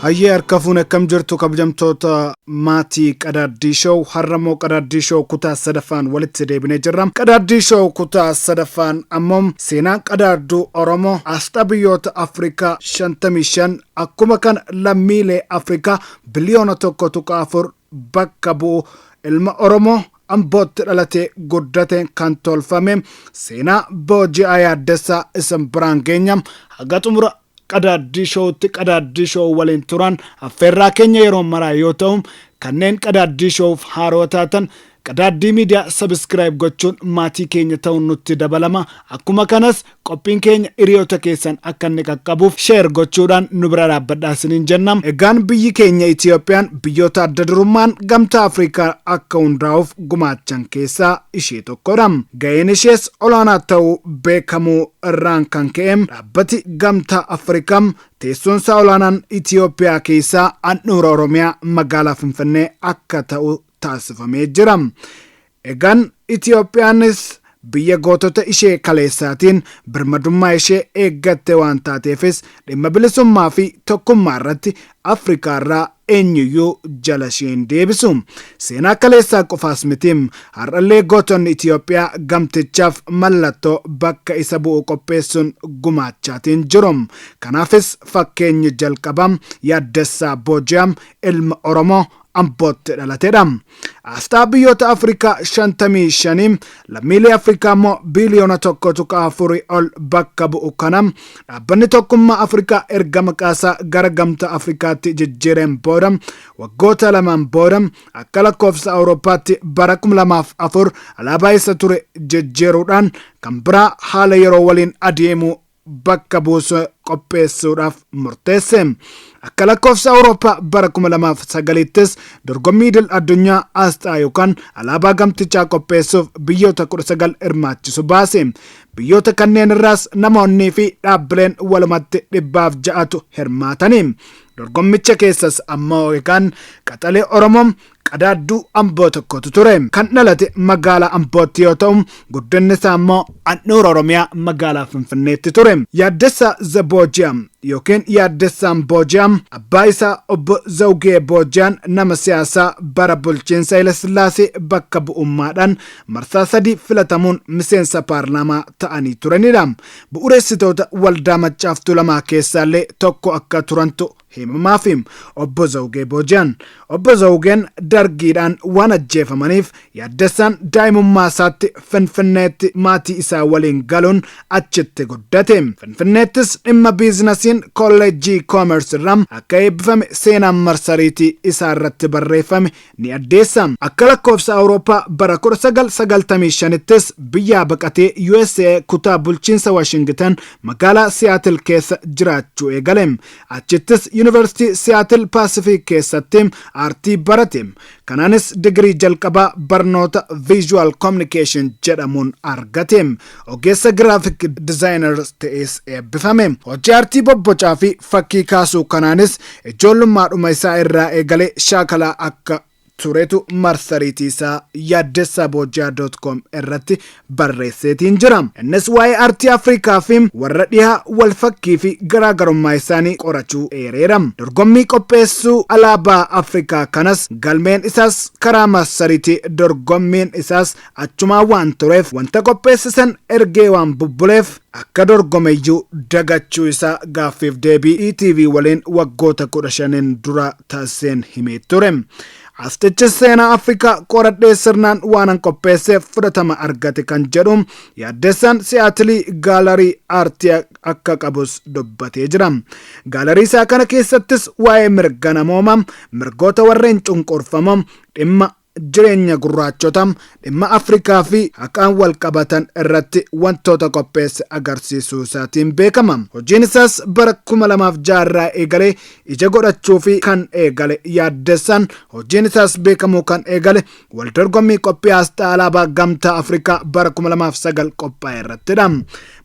Hayyee harka fuun akkam jirtu kabajamtoota maatii qadaaddii shoow har'ammoo qadaaddii shoow kutaa sadaffaan walitti deebinee jirra. Qadaaddii shoow kutaa sadaffaan ammoo seenaa qadaadduu Oromoo asxaa biyyoota Afrikaa 55 akkuma kana lammiilee Afrikaa biliyoona 1.4 bakka bu'u ilma Oromoo Ambootti dhalatee guddateen kan tolfame seenaa booji'aa yaaddessaa isin biraan geenya haga xumura qadaaddii showutti qadaaddii show waliin turaan affeerraa keenya yeroo maraa yoo ta'u kanneen qadaaddii showuuf haaroo taatan Qadaaddii Media subscribe gochuun maatii keenya ta'uun nutti dabalama. Akkuma kanas qophiin keenya hiriyoota keessan akka inni qaqqabuuf share gochuudhaan nu bira dhaabbadhaa isiniin jenna. Egaan biyyi keenya Itiyoophiyaan biyyoota adda durummaan Gamtaa Afrikaa akka hundaa'uuf gumaachan keessaa ishee tokkodha. Ga'een ishees olaanaa ta'uu beekamuu irraan kan ka'e dhaabbati Gamtaa Afrikaa teessoon isaa olaanaan Itiyoophiyaa keessaa handhuura Oromiyaa magaalaa Finfinnee akka ta'u taasifamee jira. Egaan Itiyoophiyaanis biyya gootota ishee kaleessaatiin birmadummaa ishee eeggatte waan taateefis dhimma bilisummaa fi tokkummaa irratti Afrikaa irraa eenyuyyuu jala ishee hin deebisu. Seenaa kaleessaa qofaas miti. Har'allee gootonni Itiyoophiyaa gamtichaaf mallattoo bakka isa bu'u qopheessuun gumaachaatiin jiru. Kanaafis fakkeenyi jalqabaa Yaaddessaa Booji'aa ilma Oromoo Ambootti dhalatedha. Asxaa biyyoota Afrikaa 55 lammiilee Afrikaa immoo biiliyoona 1.4 ol bakka bu'u kana dhaabbanni tokkummaa Afrikaa erga maqaasaa gara gamtaa Afrikaatti jijjiireen booda waggoota lamaan booda akka lakkoofsa Awurooppaatti bara 2004 alaabaa isa ture jijjiiruudhaan kan biraa haala yeroo waliin adeemuu bakka buusu qopheessuudhaaf murteesse. Akka lakkoofsa Awurooppaa bara 2009ttis dorgommii idil addunyaa asxaa yookaan alaabaa gamtichaa qopheessuuf biyyoota 19 hirmaachisu baase. Biyyoota kanneen irraas namoonnii fi dhaabbileen walumatti dhibbaaf ja'atu hirmaatani. Dorgommicha keessas ammoo egaan qaxalee Oromoo Qadaadduu Amboo tokkotu ture. Kan dhalate magaalaa Ambootti yoo ta'u, guddinni isaa immoo handhuura Oromiyaa magaalaa Finfinneetti ture. Yaaddessaa Zaboojiyaam yookiin Yaaddessaan Boojiyaam abbaa isaa obbo Zawugee Boojiyaan nama siyaasaa bara bulchiinsa Hayilasillaasee bakka bu'ummaadhaan marsaa sadii filatamuun miseensa paarlaamaa ta'anii turanidha. Bu'ureessitoota waldaa Maccaaf Tuulamaa keessaallee tokko akka turantu himamaa fi obbo Zawugee booji'an. Obbo Zawugeen Dargiidhaan waan ajjeefamaniif Yaaddessaan daa'imummaa isaatti Finfinneetti maatii isaa waliin galuun achitti guddate. Finfinneettis dhimma biizinasiin Kolleejjii Koomersi irraa akka eebbifame seenaan marsariitii isaa irratti barreeffame ni addeessa. Akka lakkoofsa Awurooppaa bara 1995ttis biyyaa baqatee usa kutaa bulchiinsa Washingitan magaalaa Siyaatil keessa jiraachuu eegale. Achittis Yunivarsitii Siyaatil Paasifiik keessatti aartii barate. Kanaanis digirii jalqabaa barnoota Visual Communication jedhamuun argate. Ogeessa Giraafiik Dizaayinar ta'ees eebbifame. Hojii aartii bobbocaa fi fakkii kaasuu kanaanis ijoollummaadhuma isaa irraa eegalee shaakalaa akka turetu marsariitii isaa yaaddessaboojaa.com irratti barreesseetiin jira. Innis waa'ee aartii Afrikaa fi warra dhihaa wal fakkii fi garaagarummaa isaanii qorachuu eereera. Dorgommii qopheessuu alaabaa Afrikaa kanas galmeen isaas karaa marsariitii dorgommiin isaas achumaan waan tureef wanta qopheesse san ergee waan bubbuleef akka dorgomeyyuu dagachuu isaa gaaffiif deebii ETV waliin waggoota 15n dura taasiseen himee ture. Asxichis seenaa Afrikaa qoradhee sirnaan waanan qopheesseef fudhatama argate kan jedhu yaaddessaan Siyaatilii gaalarii aartii akka qabus dubbatee jira. Gaalarii isaa kana keessattis waa'ee mirga namooma, mirgoota warreen cunqurfamoo, dhimma jireenya gurraachota, dhimma Afrikaa fi haqaan walqabatan irratti wantoota qopheesse agarsiisuu isaatiin beekama. Hojiin isaas bara 2006 irraa eegalee ija godhachuufi kan eegale yaaddessaan hojiin isaas beekamuu kan eegale waldorgommii qophii aasxaa alaabaa gamtaa Afrikaa bara 2009 qophaa'e irrattidha.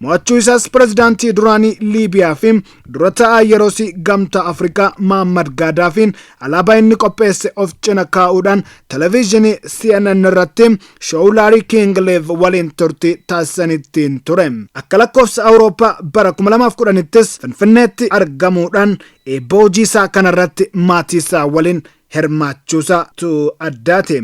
Mo'achuu isaas pirezidaantii duraanii Liibiyaa fi Dura ta'aa yeroosi gamtaa Afrikaa Maammad Gaadaafiin alaabaa inni qopheesse of cina kaa'uudhaan televiizhinii CNN irratti showuu Laarii Kiingleev waliin turtii taasisanittiin ture. Akka lakkoofsa Awurooppaa bara 2010ttis Finfinneetti argamuudhaan eebba hojii isaa kanarratti maatii isaa waliin hirmaachuusaa tu addaate.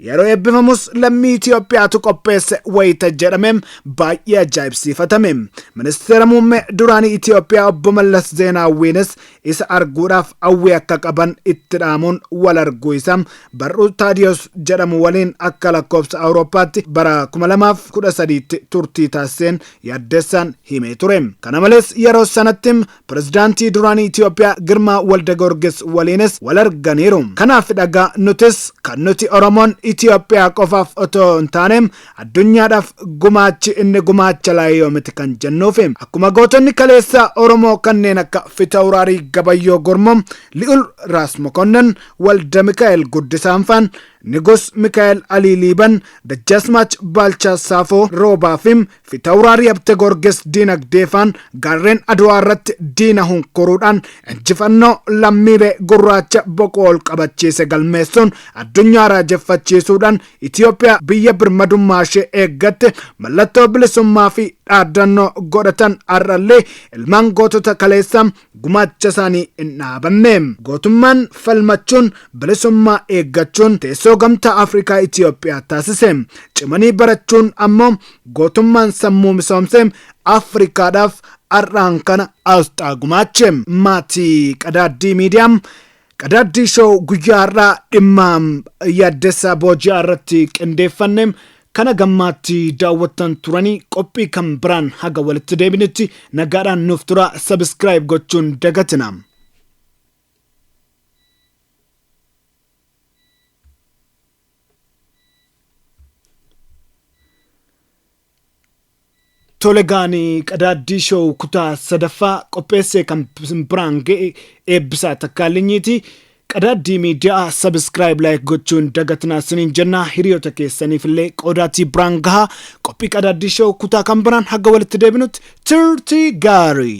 Yeroo eebbifamus lammii Itoophiyaatu qopheesse wayita jedhame baay'ee ajaa'ibsiifatame. Ministeera muummee duraanii Itoophiyaa obbo Mallas Zeenaawwiinis isa arguudhaaf hawwii akka qaban itti dhaamuun wal arguu isaa barruu Taadiyoos jedhamu waliin akka lakkoofsa Awurooppaatti bara 2013tti turtii taasiseen yaaddessaan himee ture. Kana malees yeroo sanatti Pirezidaantii duraanii Itoophiyaa Girmaa Waldagoorgis waliinis wal arganiiru. Kanaaf dhagaa nutis kan nuti Oromoon Itoophiyaa qofaaf otoo hin taane addunyaadhaaf gumaachi inni gumaacha laayee yoomiti kan jennuufi. Akkuma gootonni kaleessaa Oromoo kanneen akka Fitawuraarii Gabayyoo Gurmuu, Li'ul Raas Mokonnon, Walda Mikaa'el Guddisaanfaan, Nigus Mikaa'el Alii Liiban, Dajjaasmaach Baalchaa Saafoo Roobaa fi Fitawuraarii Habtegoorgis diinagdeefaan gaarreen Adwaa irratti diina hunkuruudhaan injifannoo lammiilee gurraacha boquu ol qabachiise galmeessuun addunyaa raajeffachiisuudhaan Itoophiyaa biyya birmadummaa ishee eeggatte mallattoo bilisummaa fi dhaaddannoo godhatan har'allee ilmaan gootota kaleessaa gumaacha isaanii hin dhaabanne. Gootummaan falmachuun bilisummaa eeggachuun teessoo gamtaa Afrikaa Itiyoophiyaa taasise. Cimanii barachuun ammoo gootummaan sammuu misoomse Afrikaadhaaf har'aan kana asxaa gumaache. Maatii Qadaaddii Miidiyaa Qadaaddii Shoo guyyaa har'aa dhimma yaaddessaa booji'aa irratti qindeeffanne Kana gammaatti daawwattan turani qophii kan biraan haga walitti deebinutti nagaadhaan nuuf turaa subscribe gochuun dagatina. Tole egaan qadaaddii show kutaa sadaffaa qopheessee kan isin biraan ga'e eebbisaa takkaalinyiiti. Qadaaddii miidiyaa sabiskiraayib laayik gochuun dagatinaa isiniin jennaa hiriyoota keessaniif illee qoodaatii biraan gahaa qophii qadaaddii show kutaa kan biraan haga walitti deebinutti turtii gaarii.